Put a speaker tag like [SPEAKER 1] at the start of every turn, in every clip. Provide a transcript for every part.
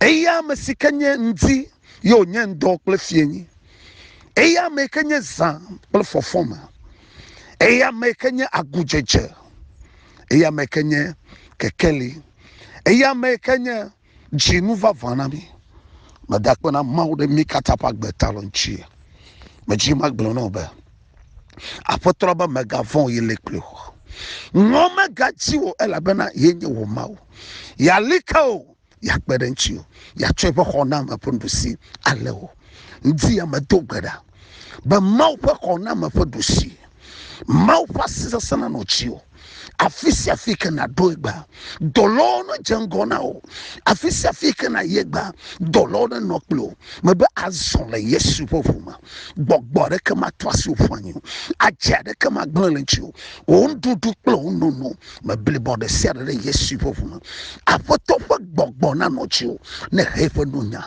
[SPEAKER 1] Eya ame si ke nye ŋdi ye wònye ŋdɔ kple fienyi. Eya ame ke nye zã kple fɔfɔme. Eya ame ke nye agudzedze. Eya ame ke nye kekeli. Eya ame ke nye dzinu vavã na mi. Meda akpe na Mawu ɖe mí katã ƒe agbe ta le ŋuti. Medzi magblɔ na wò be, Aƒetɔ be mègavɔ̃ o, ye li kpli wò. Ŋɔ megadzi o, elabena ye nye wò Mawu. Yeali ke wò, yeakpe ɖe ŋuti wò, yeatsɔ eƒe xɔname ƒe nuɖusi alé wò. Ŋdi ya medo gbe ɖa be Mawu ƒe xɔname ƒe ɖusi, Mawu ƒe asi sesẽ nanɔ dziwò. afi sia afi ke nàɖo egbea dɔlawo nedze ŋgɔ na o afi sia afi ke nàyi egbea dɔlawo nenɔ kple o mebe azɔ le yesu ƒe ʋu me gbɔgbɔ aɖeke mato asi wò ƒu anyi o adze aɖeke magblẽ le ŋuti o wò nuɖuɖu kple wò nono meblibɔ ɖe sia ɖe ɖe yesu ƒe ʋu me aƒetɔ ƒe gbɔgbɔ nanɔ dziwò ne he eƒe nunya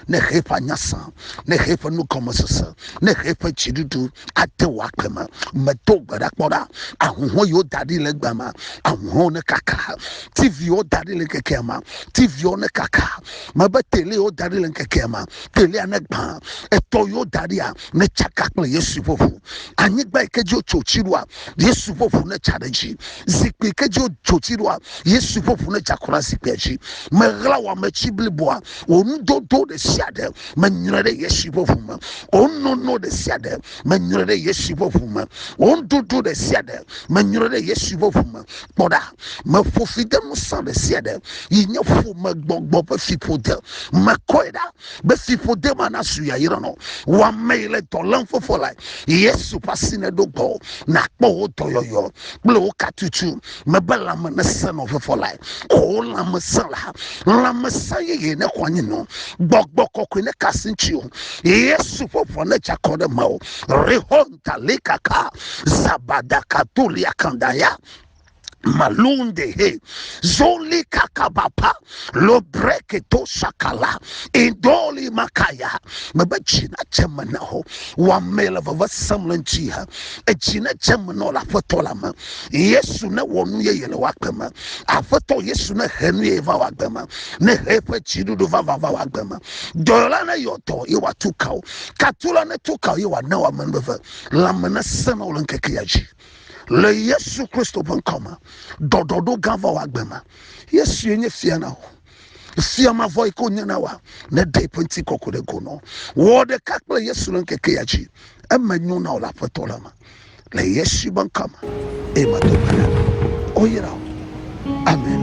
[SPEAKER 1] ne he eƒe anyasã ne he eƒe nugɔmesese ne he eƒe dziɖuɖu ate wò agbe me medo gbe ɖa kpɔ ɖa ahuhɔ yiwo da ɖi le gbe me ahuhɔwo ne kaka tiviwo da ɖi le ŋkekea me tiviwo ne kaka mebe telewo da ɖi le ŋkekea me telea ne gbã etɔ yiwo da ɖia ne tsaka kple yesu ƒe ʋu anyigba yi ke dzi wotso tsi ɖoa yesu ƒe ʋu ne tsa ɖe dzi zikpui ke dzi wotso tsi ɖoa yesu ƒe ʋu ne tsa kura zikpuia dzi meɣla wɔame tsi bliboa wò nudodo ɖe sia ɖe menyrɔe ɖe Yesu ƒe ʋu me. Wò nono ɖe sia ɖe menyrɔe ɖe Yesu ƒe ʋu me. Wò nudodo ɖe sia ɖe menyrɔe ɖe Yesu ƒe ʋu me. Kpɔ ɖa, meƒo fi de ŋusẽ ɖe sia ɖe yi nye ƒomegbɔgbɔ ƒe fiƒode. Mekɔe ɖa be fiƒode ma nasu yayra nɔ wò amee le dɔ lém fofo lae. Yesu ƒe asi neɖo gbɔwò nàkpɔ wò dɔyɔyɔ kple wò katutu. mebe lãme nesẽ nɔ vevɔ lae o oh, lãmesẽ la lãmesẽ yeye ne xɔ anyi nɔ gbɔgbɔ kɔkɔe ne kasi ŋuti o yesu ƒe ʋɔ ne dza kɔ ɖe me o rehonta likaka zabadaka doliakandaya malunde he zoli kakabapa lobreke to sakala indoli makaya mebe tsi na tse me na ho wɔame le veve sem le ŋuti ha etsi ne tse me nɔ le aƒetɔ la me yesu ne wɔ nu yeye le wagbe me aƒetɔ yesu ne he nu yeye va wagbe me ne he eƒe tsiɖuɖu vava va wagbe me dɔyɔla ne yɔ dɔ ye wòatu kawo katula ne tu kawo ye wòana wɔ amenuveve lãme ne senɔ le ŋkeke ya dzi le yesu kristo ƒe ŋkɔ me ɖɔɖɔɖo gã va wɔ agbe ma yesue nye fia na wò fia mavɔ yi ke wònye na wa ne ɖe ƒe ŋuti kɔkɔ ɖe go nɔ wɔ ɖeka kple yesu le ŋkeke ya dzi eme nyo na wò le aƒetɔ la me le yesu ƒe ŋkɔ me eye mado gbe ɖa oyera amen